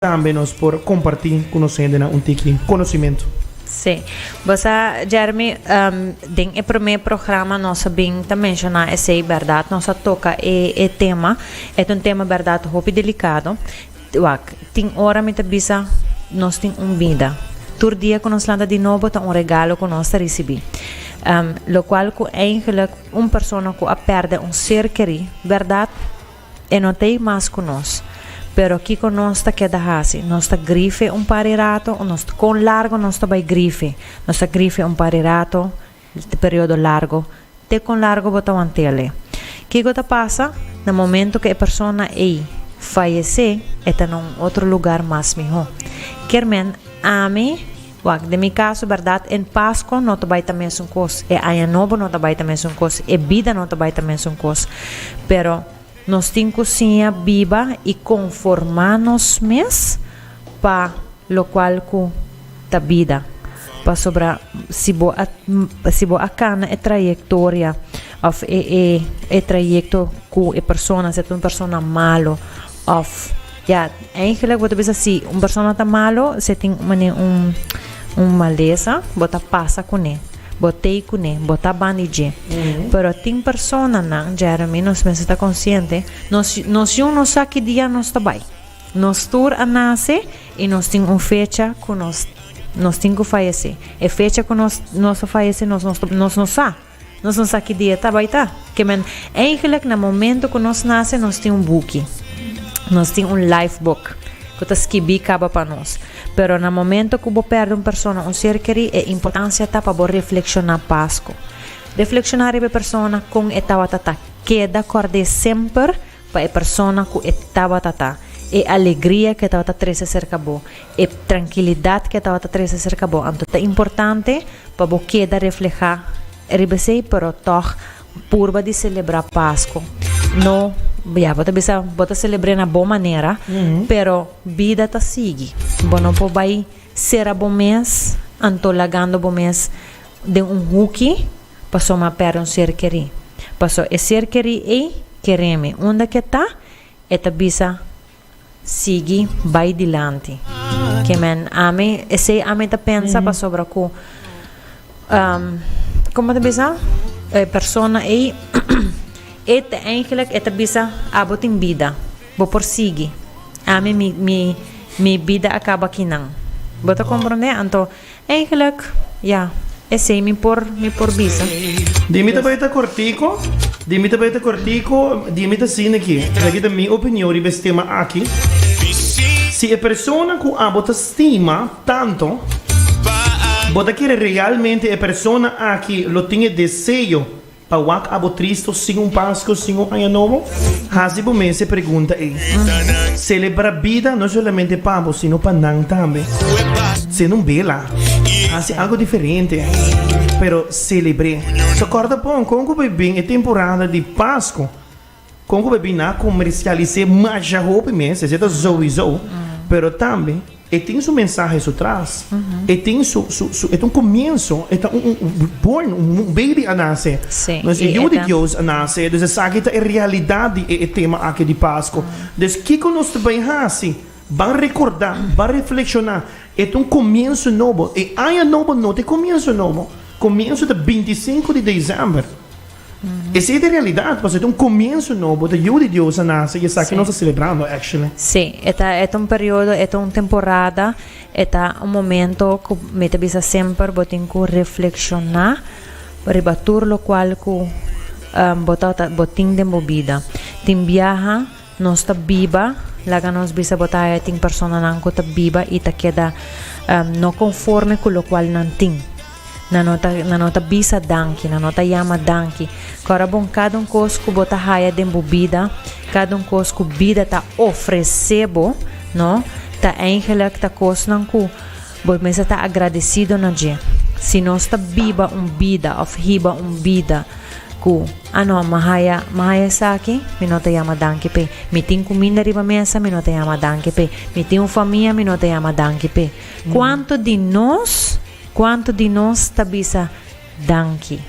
Tambe nos por kompartí ku nos hendenan un tiki konosimentu. Sí. Bo sa, Jeremy, den e promé programa nos a bin ta menshoná esei, bèrdat? Nos a toka e e tema. E ta un tema bèrdat hopi delikado. Wak, tin ora mi ta bisa nos tin un bida. Tur dia ku nos lanta di nobo ta un regalo ku nos ta risibí. Lokual ku eingelik un persona ku a pèrdè un ser kerí, bèrdat? E no ta ei mas ku nos. Pero kiko nos ta keda hasi? Nos ta grife un par di rato? Kon largu nos ta bai grife? Nos ta grife un par di rato, te periodo largu. Te kon largu bo ta want'ele? Kiko ta pasa na momentu ku e persona ei fayesé? E ta na un otro lugar mas mihó. Kermen, Ami? Wak den mi kaso bèrdat e Paskua no ta bai ta mesun kos, e Aña Nobo no ta bai ta mesun kos, e bida no ta bai ta mesun kos. Pero nos tin ku siña biba i konformá nos mes pa lokual ku ta bida. Pasobra si bo a si bo a kana e trayektoria òf e e e trayekto ku e persona, ser ta un persona malu òf. Ya, eigenlijk bo ta bisa si un persona ta malo, se tin un mane un un malesa, bo ta pasa kuné, bo tei kuné, bo ta ban di dje. Pero tin personanan, Jeremy, nos mester ta konsiente, nos yu- nos yun no sa ki dia nos ta bai. Nos tur a nase i nos tin un fecha ku nos nos tin ku fayesé. E fecha ku nos nos a fayesé nos nos ta nos no sa. Nos no sa ki dia ta bai ta. Ke men, eigenlijk na momento ku nos nase nos tin un buki. Nos tin un life book ku ta skibí kaba pa nos. Pero na momento ku bo pèrdè un persona, un ser kerí, e importansia ta pa bo reflekshoná pasko. Reflekshoná riba e persona, kon e tabata ta, keda kòrd'é semper Pa e persona ku e tabata ta, e alegria ku e tabata trese serka bo, e trankilidat ku e tabata trese serka bo. Anto ta importante pa bo keda reflehá riba esei, pero tòg purba di selebrá Pasko. No, ya, bo ta bisa bo ta selebr'é na bo manera, pero bida ta sigui. Bo no por bai sera bo mes, anto lagando bo mes den un huki. Paso m'a pèrdè un ser kerí. Paso e ser kerí ei kereme unda ke ta, e ta bisa sigui bai dilanti. Kemen, ami esei ami ta pensa pasobra ku komo ta bisa e persona ei e ta eigelik e ta bisa abo tin bida, bo por sigui, ami mi mi mi bida a kaba akinan. Bo ta komprondé? Anto. Eigenlijk, ja, esei mi por mi por bisa. Di mi ta bai ta cortico, di mi ta bai ta cortico, di mi ta sina ki, esaki ta mi opinion riba es tema aki, si e persona cu abo ta stima tanto, bo ta kere realmente e persona aki lo tin e deseo Pa wak abo tristo sin un Pasco, sin un Aña Nobo? Haci bo mes e pregunta ey. Celebra bida no solamente pa bo, sino pa nan tambe. Cende un bela. Haci algo diferente. Pero celebre. Ta corda bon con cu bay bin e temporada di Pasco Kon ku bebí na komersialis'é masha hopi mes, esei ta souizou, pero tambe e tin su mensahe su tras, e tin su su su e ta un komienso, e ta un un un born, un un baby a nase, Sí, nos e i yu e di ta. Dios a nase, dus esaki ta e realidat di e e tema aki di Pasko, dus kiko nos ta bai hasi? Ban rekordá, ban reflekshoná, e ta un komienso nobo, e aña nobo no ta e komienso nobo, komienso ta binti sinku di desèmber. Esei ta realidad, pasobra ta un comienzo nobo, ta Yiu di Dios a nace y esaki nos ta celebrando, actually. Sí, e ta, e ta un periodo, e ta un temporada, e ta un momento cu mi ta bisa semper bo tin cu reflexiona riba tur locual cu bo ta, bo tin den bo bida. Tin biaha. Nos ta biba, laga nos bisa bo ta haya tin personanan cu ta biba y ta keda no conforme cu locual nan tin. Nan no ta, nan no ta bisa danki, nan no ta yama danki. Cora bon cada un cos cu bo ta haya den bo bida, cada un cos cu bida ta ofrece bo, no, ta eigenlijk ta cosnan cu, Bo mester ta agradecido na dje. Si nos ta biba un bida of hiba un bida cu, ah no, mi haya, mi haya esaki, mi no ta yama danki p'e. Mi tin cuminda riba mesa, mi no ta yama danki p'e. Mi tin un famia, mi no ta yama danki p'e. Cuanto di nos, cuanto di nos ta bisa danki?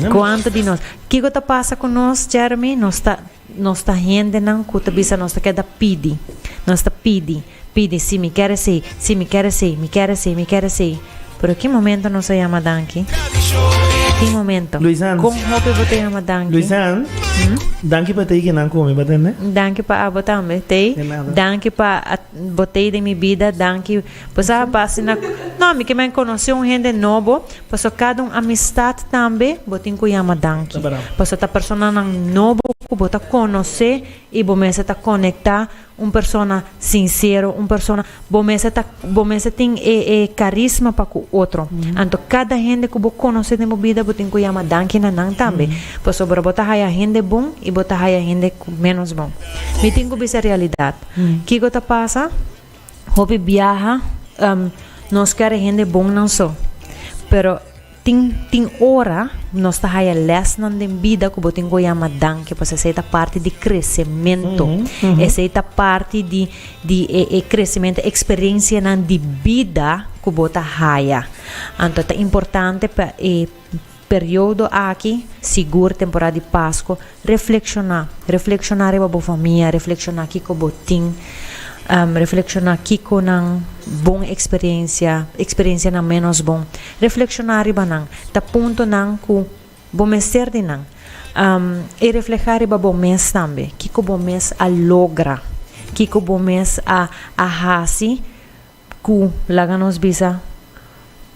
Cuanto di nos? Kico ta pasa cu nos, Jeremy? Nos ta. Nos ta hendenan ku ta bisa nos ta keda pidi. Nos ta pidi, pidi, si mi kere esei, si mi kere esei, mi kere esei, mi kere esei. Pero ki momento nos a yama danki? Tin momento. Luisan. Kon hopi bo ta yama danki? Luisan, danki pa tei kinan komi, bo tende? Danki pa abo tambe, tei. De nada. Danki pa bo tei den mi bida, danki. Pasa a base na No, mi kiba en conoce un hende nobo, paso cada un amistad tambe bo tin cu yama danki. Paso ta personanan nobo cu bo ta conoce y bo mester ta conecta un persona sincero, un persona bo mester ta bo mester tin e e carisma pa cu otro. Anto cada hende cu bo conoce den bo bida bo tin cu yama danki na nan tambe. Pasobra bo ta haya hende bon y bo ta haya hende cu menos bon. Mi tin cu bisa realidad. Kico ta pasa? Hopi biaha um, nos kere hende bonnan so, pero tin, tin ora nos ta haya lèsnan den bida ku bo tin ku yama danki, pues esei ta parti di kresementu. Mm -hmm. Esei ta parti di, di e, e kresementu, eksperensianan di bida ku bo ta haya. Anto ta importante pa e Periodo aki, sigur temporada di Pasco, reflekshoná, reflekshoná riba bo famia, reflekshoná kiko bo tin, reflekshoná kiko nan bon eksperensia, eksperensianan ménos bon, reflekshoná riba nan, ta puntonan ku bo mester di nan, i reflehá riba bo mes tambe, kiko bo mes a logra, kiko bo mes a hasi Ku laga nos bisa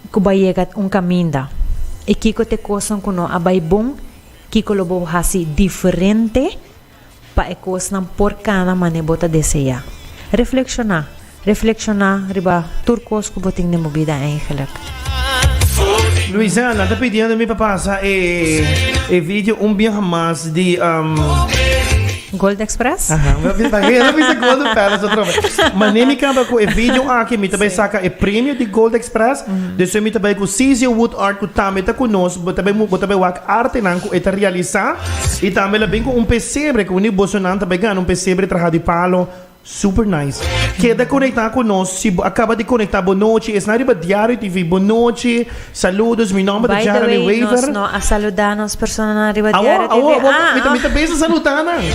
ku bai yega un kaminda i kiko ta e kosnan ku no a bai bon? Kiko lo bo hasi diferente pa e kosnan por kana manera bo ta deseá? Reflekshoná, reflekshoná riba tur kos ku bo tin den bo bida, èigelik. Luisa, nan ta pidiendo mi pa pasa e, e video un biaha mas di um, Gold Express? Aha, mi bisa que no bisa Gold Palace otro vez. Mané mi camba cu e video aquí mi tabai saca e premio di Gold Express. Dus mi tabai cu CZ Wood Art cu tambe ta cu nos, bo tabai mu bo tabai wak arte nan cu e ta realiza. Y tambe la bin cu un pesebre cu ni boso nan tabai gana un pesebre traha di palo. Super nice. Keda konekta ku nos si bo a kaba di konekta bo nochi esnan riba Diario TV bo nochi saludos mi nomber ta Jeremy Wever. By the way nos no a saluda nos personanan riba Diario TV. Awo awo awo mi ta bisa saluda nan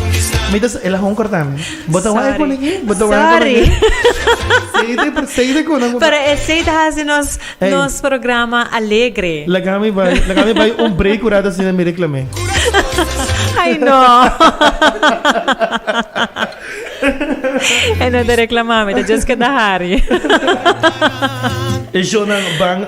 mi ta el a honker ta mi bo ta wak kunan aki bo ta wak kunan aki seide per seide ku nan pero esei ta hasi nos nos programa alegre laga mi bai laga mi bai un break ora ta sina mi reclame ay no. E no ta reclama mi ta just keda hari. E shownan ban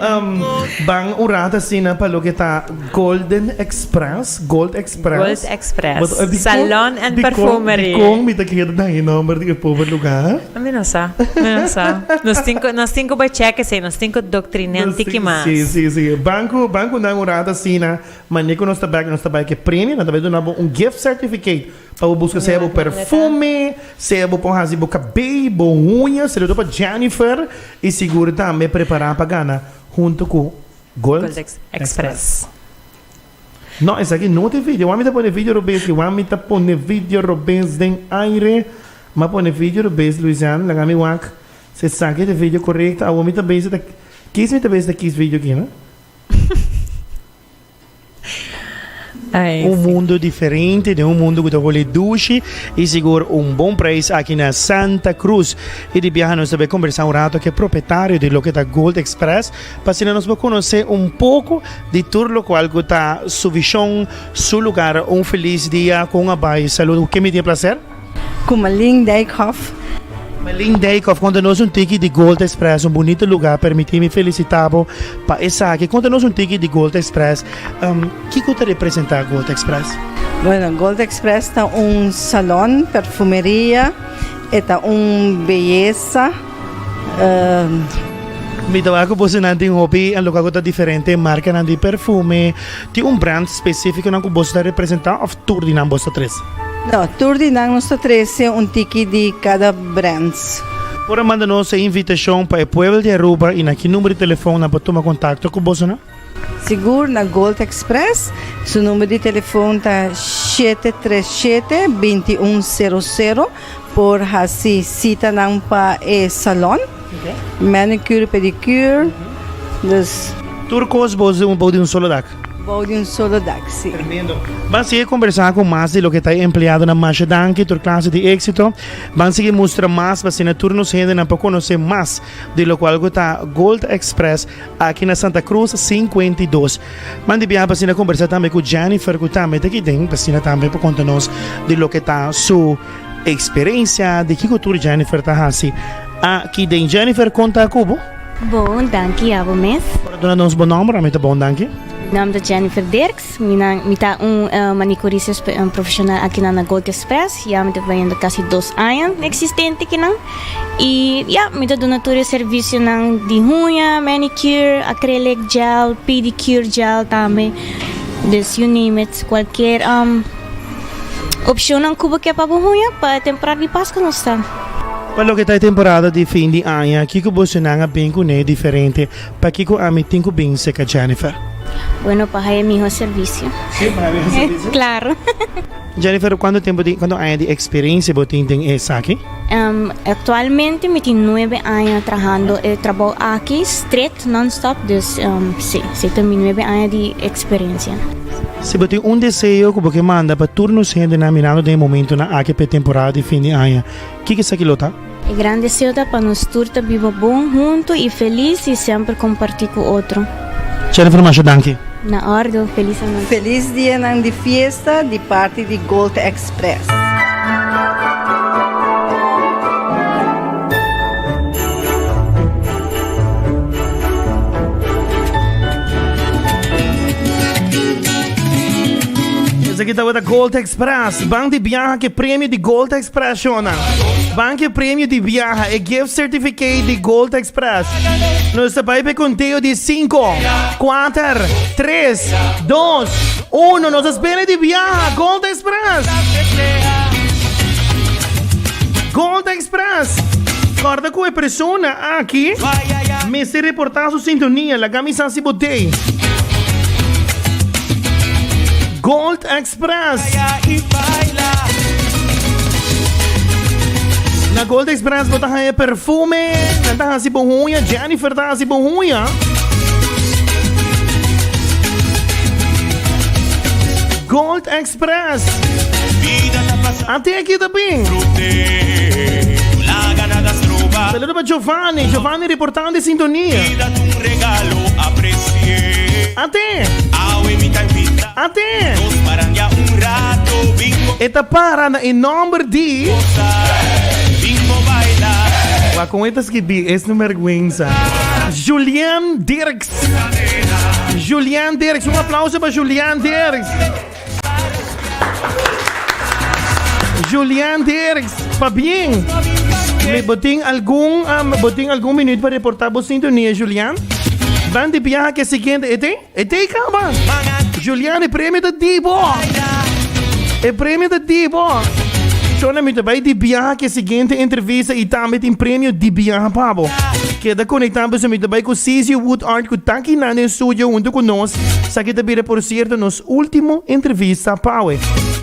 ban un rat asina pa loke ta Golden Express, Gold Express. Gold Express. Salon and Perfumery. Dikon mi ta keda dal e nomber di e pober luga? Mi no sa, mi no sa. Nos tin ku nos tin ku bai check esei, nos tin ku doktriné un tiki mas. Si, si, si. Ban ku ban ku nan un rat asina, mane ku nos ta bai nos ta bai ke premio, nan ta bai duna bo un gift certificate. Pa bo buska sea bo perfume, sea bo por hasi bo cabey, bo uña, seductor pa Jennifer y sigur tambe prepara pa gana hunto cu Gold Express. No, esaki no te video. Wami ta pone video robes ki? Wami ta pone video robes den aire. M'a pone video robes, Louisiane. Laga mi wak si esaki ta e video corecto. Awor mi ta bay si ta kis mi ta bay si ta kis video ki, no? Ay, un sí. mundo diferente, den un mundo cu ta hole dushi y sigur un bon prijs aki na Santa Cruz. Y di biaha nos ta be conversa un rato ke propietario di loke ta Gold Express pa asina nos por conoce un poco di tur locual cu ta su vision, su lugar. Un feliz dia con un abai salud. Ken mi tin e placer? Ku Malin Dijkhof. Malin Dijkhof, konta nos un tiki di Gold Express, un bunita luga, permití mi felisitá bo pa esaki. Konta nos un tiki di Gold Express, kiko ta representá Gold Express? Bueno, Gold Express ta un salon, perfumeria, e ta un beyesa. Mi ta wak ku bosonan tin hopi loke ku ta diferente markanan di perfume. Tin un brand spesífikonan ku boso ta representá òf? Tur di nan bos ta trece? No, tur di nan nos ta trece un tiki di cada brands. Por a manda nos e invitacion pa e pueblo di Aruba y na ki number di telefon nan por tuma contacto cu boso nan? Sigur, na Gold Express su number di telefon ta shete tres shete binti un cero cero. Por hasi sitanan pa e salon, manicure, pedicure, dus. Tur kos bou di un solo dak. Bou di un solo dak, si. Tremendo. Ban sigui kombersá ku mas di loke ta e empleadonan. Masha danki, tur klase di éksito. Ban sigui mustra mas pa asina tur nos hendenan por konosé mas. di lokual ku ta Gold Express aki na Santa Krus sinkuenta i dos. Man di biaha Basina kombersá tambe ku Jennifer ku tambe ta kiten. Basina tambe por konta nos di loke ta su eksperensia, di kiko tur Jennifer ta hasi aki den. Jennifer konta ku bo. Bon, danki abo mes. Por a duna nos bo nòmber? Mi ta Bon, danki. Mi nòmber ta Jennifer Dirks. Minan, mi ta un manicuris profesional akinan na Gold Express, ya mi ta trayendo casi dos aña existente kinan, y ya mi ta duna tur e servicionan di huña, manicure, acrylic gel, pedicure gel tambe, dus you name it, cualkier opcionnan cu bo ke pa bo huña, pa e temporada di Pascua nos ta. Pa loke ta e temporada di fin di aña, kico bosonan a bin cune diferente? Pakiko ami tin ku bin seka Jennifer? Bueno, pa haña e mihó servisio. Sí, pa haña e mihó servisio. Klaro. Jennifer, kuantu tempu di, kuantu aña di eksperensia bo tin den esaki? Aktualmente mi tin nuebe aña trahando e trabou aki stret, non-stop, dus sí, si ta mi nuebe aña di eksperensia. Si bo tin un deseo ku bo ke manda pa tur nos hendenan mirando den e momentunan aki pa e temporada di fin di aña, kiko esaki lo ta? E gran deseo ta pa nos tur ta biba bon, huntu i felis i semper kompartí ku otro. Jennifer Masha danki. Na ordo. Felis anochi. Felis dianan di fiesta di parti di Gold Express. Esaki tabata Gold Spras, Bank di biaha ke premio di Gold Express Shona. Bank ke premio di biaha e gift certificate di Gold Express. Nos ta bai pe konteo di 5, 4, 3, 2, 1. Nos spelen di biaha Gold Express. Gold Express. Korda ku e persona aki mester reportá su sintonia. Laga mi sa si bo tei. Gold Express. Na Gold Express bo ta haya perfume, nan ta hasi bon huña, Jennifer ta hasi bon huña. Gold Express. Ante aquí también. Saludos para Giovanni, Giovanni reportando de sintonía. Ante. Aten! E ta para na e nomber di. Wak kon e ta skibí es no merguensa. Julian Dirks. Julian Dirks. Un aplauso pa Julian Dirks. Julian Dirks. Pabien. Me bo tin algun, um, bo tin algun minuut pa reportá bo sintonia, Julian? Dan di biaha ke siguiente, e tin? E dei kaba. Julian e premio ta di bo. E premio ta di bo. Shona mi ta bai di biaha ke siguiente entrevista i tambe tin premio di biaha pa bo. Keda konekta pasobra mi ta bai ku CC Wood Art ku ta kina den studio huntu ku nos. Esaki ta bira por sierto nos ultimo entrevista pa awe.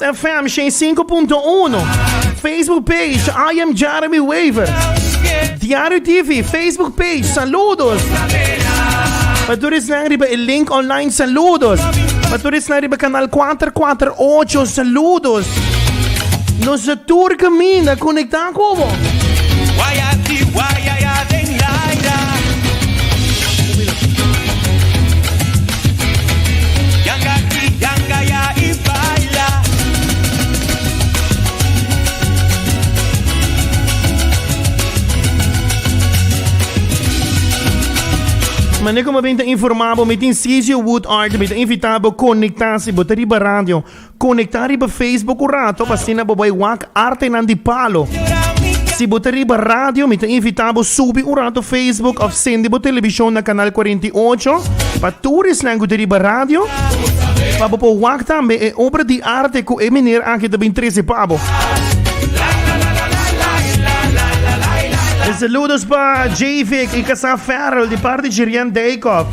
FM 105.1 Facebook page I am Jeremy Weaver Diario TV Facebook page Saludos Pa todos na riba el link online Saludos Pa todos na riba canal 448 Saludos Nos tour camina conecta como Guayati guayaya den laira Mane como ben ta informa bo, mi tin Cecil Woodard, mi ta invita bo conecta si bo ta riba radio. Konektá riba Facebook un rato pa asina bo bai wak artenan di palo. Si bo ta riba radio, mi ta invitá bo subi un rato Facebook òf sendi bo telebishon na kanal kuarenta i ocho pa tur esnan ku ta riba radio pa bo por wak tambe e obra di arte ku e meneer aki ta bin trese pa bo. E saludos pa Jayvick i Casa Farrell di parti Jirian Daycock.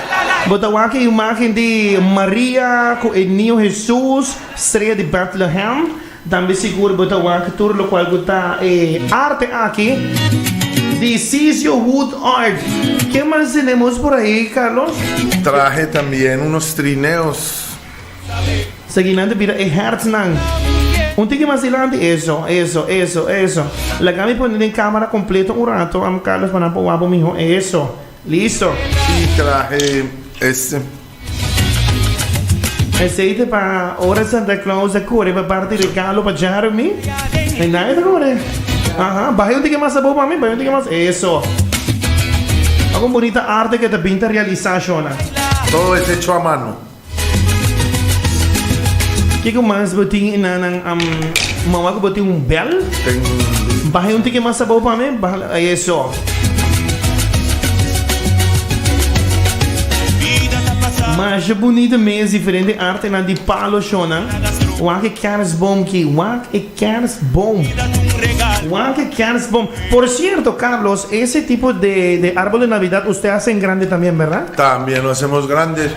Bo ta wak e imágen di Maria ku e niño Hesus, strea di Bètlehèm. Tambe sigur bo ta wak tur lokual ku ta e arte aki di Ciccio Wood Art. Ke mas tenemos por ahi, Carlos? Trahe también unos trineos. Segui nan ta bira e hèrtnan. Un tiki mas dilanti, eso, eso, eso, eso. Laga mi pone den cámara completo un rato, amo Carlos, pa nan por wak bo mihó. Eso. Listo! Y trahe este. Aceite pa ora Santa Claus a core pa parti regalo pa Jeremy. E nadie ta core. Aha, bahe un tiki mas abo mami, bahe un tiki mas. Eso. Oco un bonita arte que ta binta realiza, Shona. Todo ese hecho a mano. Ke ku mas bo tin i na nan am mawa ku bo tin un bèl? Baha un tiki mas abou pa mi. Masha bunita mes diferente artenan di palo shownan. Wak e kèrsbom ki, wak e kèrsbom. Wak e kèrsbom. Por sierto Carlos ese tipo de de arbol de navidad usted a hasen grande también, berda? También lo hacemos grande.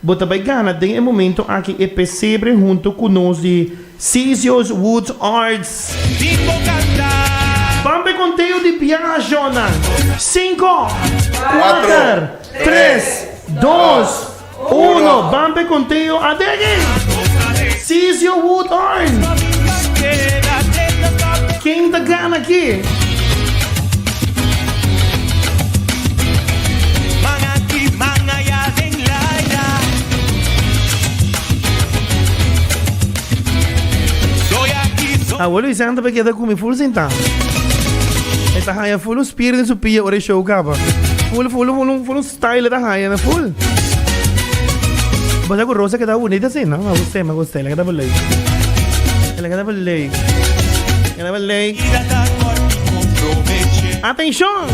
Bo ta bai gana den e momento aki e pesebre hunto cu nos di Cesios Woods Arts. Ban p'e conteo di biahacionnan. Cinco, cuater, tres, dos, uno, ban p'e conteo adegi! Cesio Woods Arts. Ken ta gana aki? Awe Luisanta pe keda kumi full sinta. E ta haya full un spirit in su pia ora show kaba. Full, full, full, full, full style ta haya na full. Basta ku Rosa keda bonita sin, no? Ma gustei, ma gustei, la keda belei. La keda belei. Anabel Day. Atención!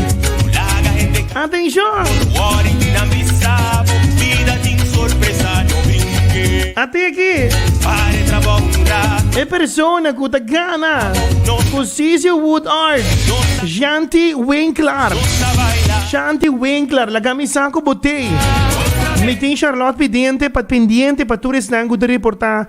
Atención! Ati aquí. E persona ku ta gana ku Sisi Woodard, Shanti Winkler. Shanti Winkler, la camisa ku botei. Mitin Charlotte pendiente pa pendiente pa tur esnan ku ta reporta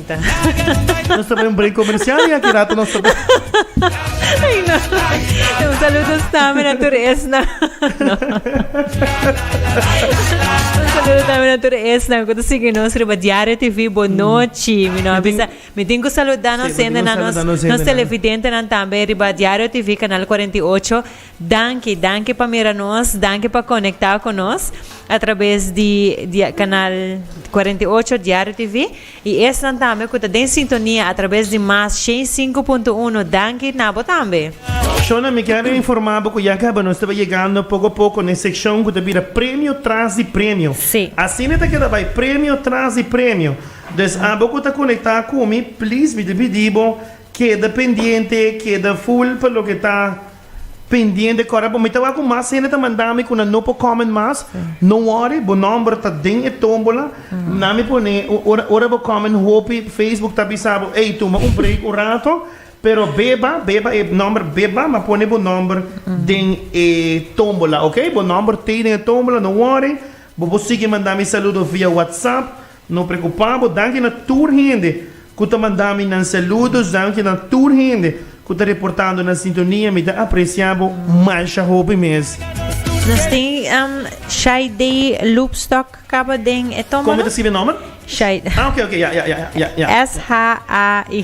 Nos ta bai un break comercial y aquí rato nos ta bai. Ay, no. Un saludo también a tur esna. No. Un saludo también a tur esna. Cuando sigue nos riba Diario TV, bonochi. Mi no avisa. Mi tengo saludando Sí, senda mi na tengo nos, saludando senda nos na- televidente nan también riba Diario TV, canal 48. Danki, danki pa mira nos, danki pa conectado con nos a través di, di canal 48 Diario TV. Y esnan tambe cu ta den sintonia a traves di Mas cien cinco punto uno danki na bo tambe. Shona, mi quier informa bo cu ya caba nos taba yegando poco poco n'e seccion cu ta bira Premio tras di Premio. Asina ta keda bay Premio tras di Premio. Dus abo cu ta conecta cu mi please mi ta pidi bo keda pendiente, keda full pa loke ta. Pendiente correct bo mi ta wak cu mas hende ta manda mi cu nan no por comment mas no worry bo nomber ta den e tombola nan mi pone ora ora bo comment hopi Facebook ta bisa bo ey tuma un break un rato pero beba beba e nomber beba ma pone bo nomber den e tombola ok bo nomber tey den e tombola no worry bo por sigi manda mi saludo via WhatsApp No preocupa bo, danki na tur hende cu ta manda mi nan saludos, danki na tur hende cu ta reportando nan sintonia, mi ta aprecia bo masha hopi mes. Nos tin um Shaidé Loopstock caba den e tomo, Como mi ta scribe e nomber? Shaidé. Ah, ok, ok, ya, ya, ya, ya, ya. S-h-a-y.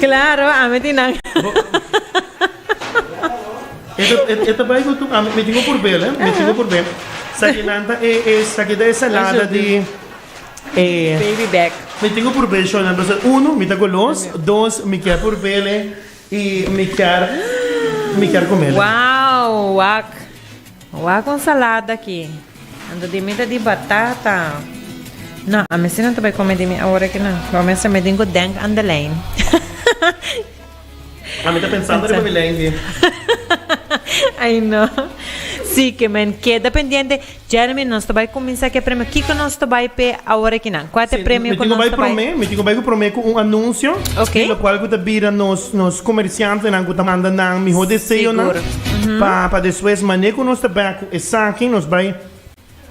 Claro, ami tin nan. E ta bai ku tur ami. Mi tin ku purbé el, he. Mi tin ku purbé. Sa ke nan ta e, e, sa ke ta e salada di e. Baby back. Mi tin ku purbé shò nan pasobra uno mi ta golos, dos mi kier purbé el, e i mi kier, mi kier kume el. Wow, wak. Wak un salada aki. Anto di mi ta di batata. No, a mester no ta bai come di mi ahora aquí no. Lo mester me din cu Denk aan de lijn. A mi ta pensando riba mi lijn si. Ay no. Si que men keda pendiente. Jeremy, nos ta bai cuminsa cu e premio. Kico nos ta bai pe ahora aquí nan? Cua ta e premio cu nos ta bai? Mi tin cu bai prome, mi tin cu bai cu prome cu un anuncio. Ok. Di locual cu ta bira nos, nos comerciantenan cu ta manda nan mihor deseonan. Sigur. Pa pa despues manera cu nos ta back cu esaki nos bay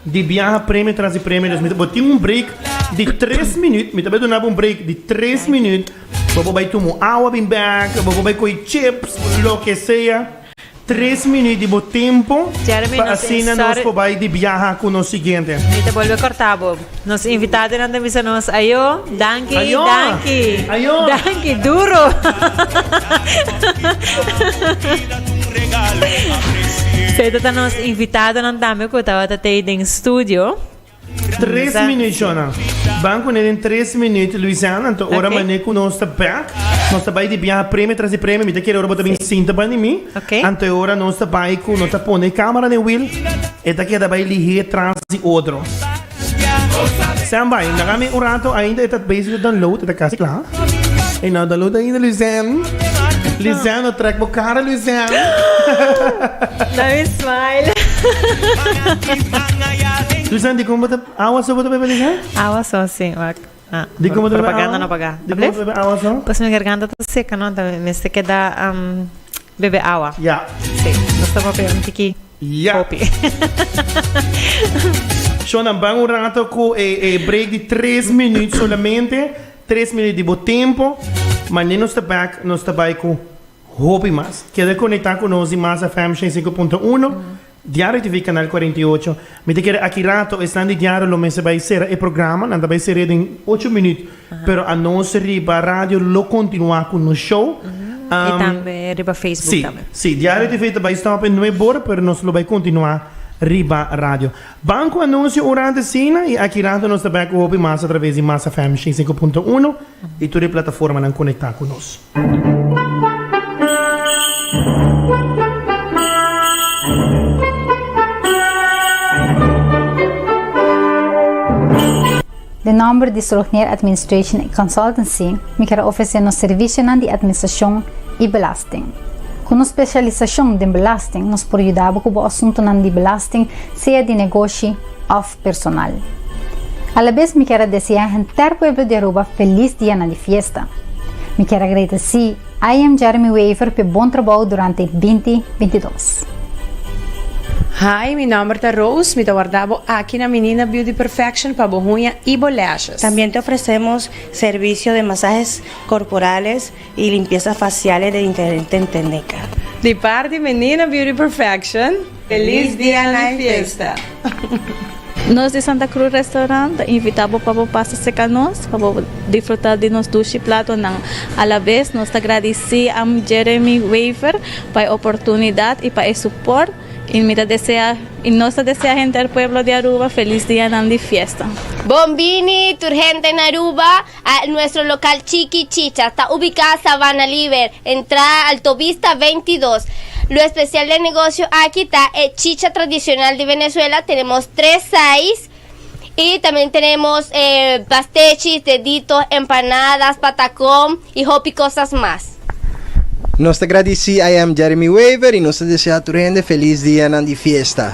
di biaha premio tras di premio dus mi ta bo tin un break di tres minuut mi ta bay duna bo un break di tres minuut bo por bay tumo awa bin back bo por bay coge chips loke sea tres minuut di bo tempo Jeremy pa nos asina nos insor por bay di biaha cu nos siguiente. Mi ta bolbe corta bo. Nos invitadonan ta bisa nos ayo. Danki, Ayo! danki, Ayo! danki duro. Feto ta nos invitadonan tambe ku tabata tei den studio. Tres Sa- minuut shownan. Ban kuné den tres minuut Louisiana. Anto ora Oké. mané ku nos ta bèk. Nos ta bai di biaha premio tras di premio. Mi ta kere ora bo ta bin sinta bani mi. Oké. Anto e ora nos ta bai ku no ta pone kamera den wiel. E ta keda bai lihé tras di otro. Stan bai, nan ami un rato ainda e ta bezig di download, e ta kasi kla. E no a download ainda Luzen. Luzen no trek bo kara Luzen. Na mi smile. Luzen dikon bo ta awa so bo ta bebe Luzen? Awa so si wak. Di como ta bebe awa? Pues mi garganta ta seca no ta mester keda bebe awa. Ya. Si nos ta papia un tiki hopi. Sho nan ban un rato cu e break di tres minuut solamente, tres minuut di bo tempo, ma nen nos ta back nos ta bay cu hopi mas. Keda conecta cu nos di Mas FM ciento cinco punto uno. Diario TV Canal cuarenta y ocho, Mi ta kere aki rato esnan di diario lo mester bai sera e programa, nan ta bai seria den ocho minuut, pero a nos riba radio lo continua cu nos show, Y tambe riba Facebook si, tambe. si, Diario TV ta bai stop e nueve bor, pero nos lo bai continua riba radio. Ban cu anuncio ora antes cena y aki rato nos ta bek cu hopi mas a traves di Massa FM ciento cinco punto uno y tur e plataformanan conecta cu nos. Den nomber di Strohneer Administration y Consultancy mi ker a ofrece nos servicionan di administracion y belasting. Cu nos specialisacion den belasting nos por yuda bo cu bo asuntonan di belasting sea di negoshi of personal. Alabes mi kier a desea henter pueblo di Aruba felis dianan di fiesta. Mi kier agradeci IM Jeremy Wever p'e bon trabou durante binti binti dos. Hi, mi nomber ta Rose, mi ta warda bo aki na Menina Beauty Perfection pa bo huña y bo lashes. También te ofrecemos servicio de masajes corporales. y limpieza facial e de diferente tendeka. Di par di Menina Beauty Perfection. Feliz dia na e fiesta! Nos di Santa Cruz Restaurant ta invita bo pa bo pasa cerca nos pa bo disfruta di nos dushi platonan. A la vez nos ta gradici Amb. Jeremy Wever pa e oportunidad y pa e support y mi ta desea y nos ta desea henter pueblo di Aruba feliz dianan di fiesta. Bon bini tur henter na Aruba. Nuestro local Chiki Chicha ta ubica Sabana Liber, entrada Altovista veintidos. Lo especial den negocio aki ta e chicha tradicional di Venezuela, tenemos tres size y también tenemos pastechis, deditos, empanadas, patacón y hopi cosas mas. Nos ta gradici I Am Jeremy Wever y nos ta desea tur hende feliz dianan di fiesta.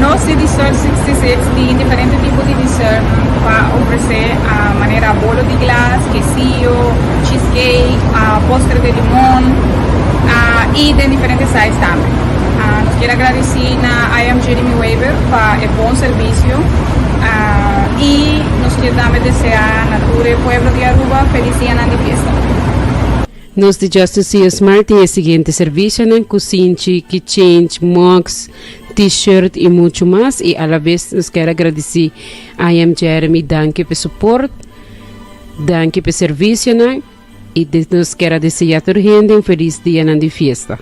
Nos tin di sort sixty-six tin diferente tipo di dessert pa ofrece manera bolo di glas, quesillo, cheese cake, postre de limon y den diferente size tambe. Nos quier agradeci na I Am Jeremy Weber pa e bon servicio y nos quier tambe desea na tur e pueblo di Aruba feliz dianan di fiesta. Nos di Justice Sears Mart tin e siguiente servicionan, Kusinchi, Ki Change, Mugs, T-shirt y mucho mas. Y a la vez nos quier agradeci I Am Jeremy, danki p'e support, danki p'e servicionan y nos quier a desea tur hende un feliz dianan di fiesta.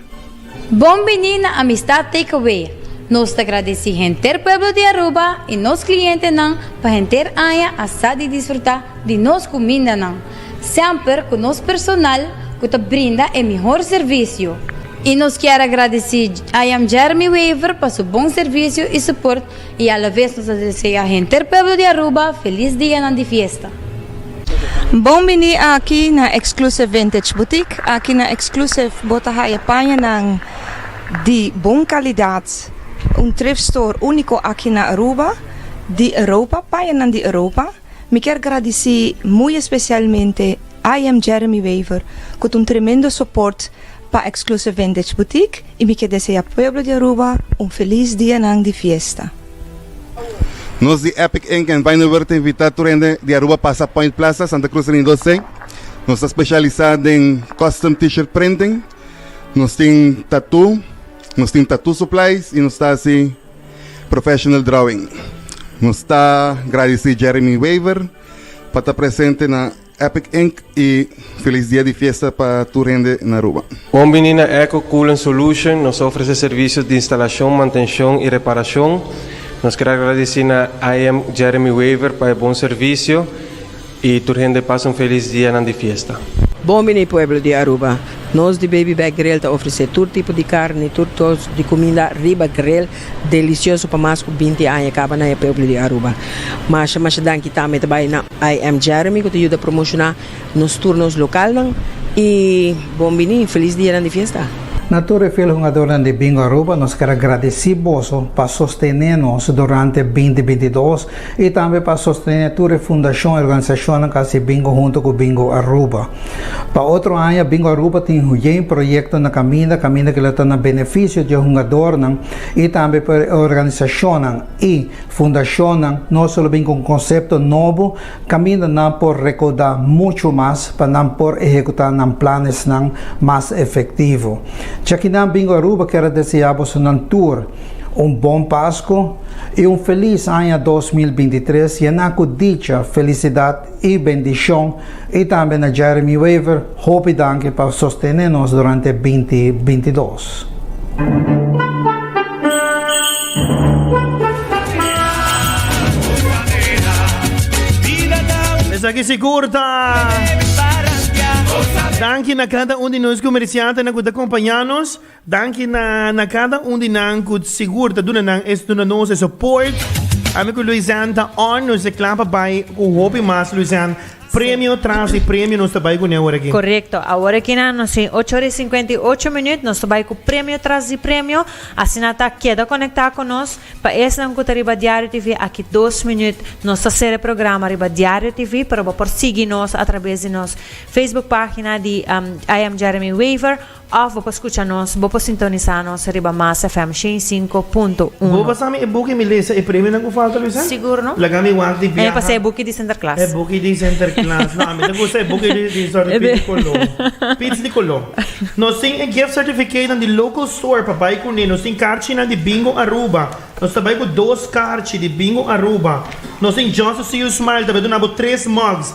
Bon bini na Amistad Takeaway. Nos ta gradeci henter pueblo di Aruba y nos clientenan pa henter aña a sa di disfruta di nos cumindanan, semper cu nos personal cu ta brinda e mihor servicio. Y nos kier a gradeci I Am Jeremy Wever pa su bon servicio y support I alavez nos ta desea henter pueblo di Aruba felis dianan di fiesta. Bon bini aki na Exclusive Vintage Boutique. Aki na Exclusive bo ta haya pañanan di bon kalidad, un thrift store úniko aki na Aruba, di Europa, pañanan di Europa. Mi kier gradici muy especialmente IM Jeremy Wever cu ta un tremendo support pa Exclusive Vintage Boutique y mi kier desea pueblo di Aruba un feliz dianan di fiesta. Nos di Epic Ink and Vinyver ta invita tur hende di Aruba pasa Point Plaza, Santa Cruz Ring dos ei. Nos ta specialisa den custom T-shirt printing. Nos tin tattoo, nos tin tattoo supplies y nos ta haci. Professional Drawing. Nos ta gradisí Jeremy Wever pa ta presente na Epic Ink i felis dia di fiesta pa tur hende na Aruba. Bon bini na Eco Coolant Solution. Nos ta ofresé servisionan di instalashon, mantenshon i reparashon. Nos ker a gradisí na IM Jeremy Wever pa e bon servisio. Y tur hende pasa un felis dianan di fiesta. Bon bini pueblo di Aruba. Nos di Baby Back Grill ta ofrece tur tipo di carni, tur tors di cuminda riba grill delicioso pa mas cu binti aña caba na e pueblo di Aruba. Masha masha danki tambe ta bay na I Am Jeremy cu ta yuda promociona nos tur nos localnan y bon bini felis dianan di fiesta. Na tur e fiel hungadornan di Bingo Aruba nos ker a gradici boso pa sostene nos durante binti binti dos. I tambe pa sostene tur e fundashon i organisashonnan ku a hasi bingo huntu ku Bingo Aruba. Pa otro aña Bingo Aruba tin hoyen proyekto na kaminda, kaminda kila ta na benefisio di e hungadornan i tambe pa e organisashonnan i fundashonnan. No solo bin ku un konsepto nobo, kaminda nan por rekaudá muchu mas pa nan por ehekutá nan planesnan mas efektivo. Chakinan Bingo Aruba kier a deseá bosonan tur. Un bon Pasku i un felis aña dos mil binti tres yená ku dicha, felisidat i bendishon i tambe na Jeremy Wever hopi danki pa sostené nos durante binti binti dos. Esaki sigur ta danki na kada un di nos komersiante nan ku ta kompañá nos. Danki na cada un di nan cu sigur ta duna nan e duna nos e support. Ami cu Louisanne ta on nos e cla pa bay cu hopi mas Louisanne premio tras di premio nos ta bay cune awor aki. Correcto, awor aki na nos tin ocho ora y cincuenta y ocho minuut nos ta bay cu premio tras di premio, asina ta keda conecta cu nos, pa esnan cu ta riba Diario TV aki dos minuut nos ta ser e programa riba Diario TV pero bo por sigui nos a traves di nos Facebook pagina di I am Jeremy Wever Of bo por scucha nos, bo por sintonisa nos riba Mas FM shen i sinku punto uno. Bo pasa mi e buki mi lesa e premionan ku falta Luisa? Sigur no. Laga mi wak di biaha. E pasa e buki di Sinterklaas. E buki di Sinterklaas. No, ami ta gusta e buki di di Zwarte Piet di Kolo. Piets di Kolo. Nos tin e gift certificatenan di local store pa bai kuné. Nos tin karchinan di Bingo Aruba. Nos ta bai ku dos karchi di Bingo Aruba. Nos tin Just to see you smile ta bai duna bo tres mugs.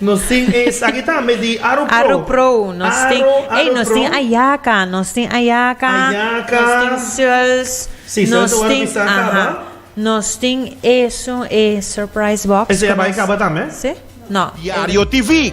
Nos tin esaki tambe di Arupro. Arupro, nos tin, ey nos tin ayaka, nos tin ayaka, nos tin sels, nos tin, aha, nos tin eso, e surprise box. Ese ya bai kaba tambe? Si, no. Diario TV.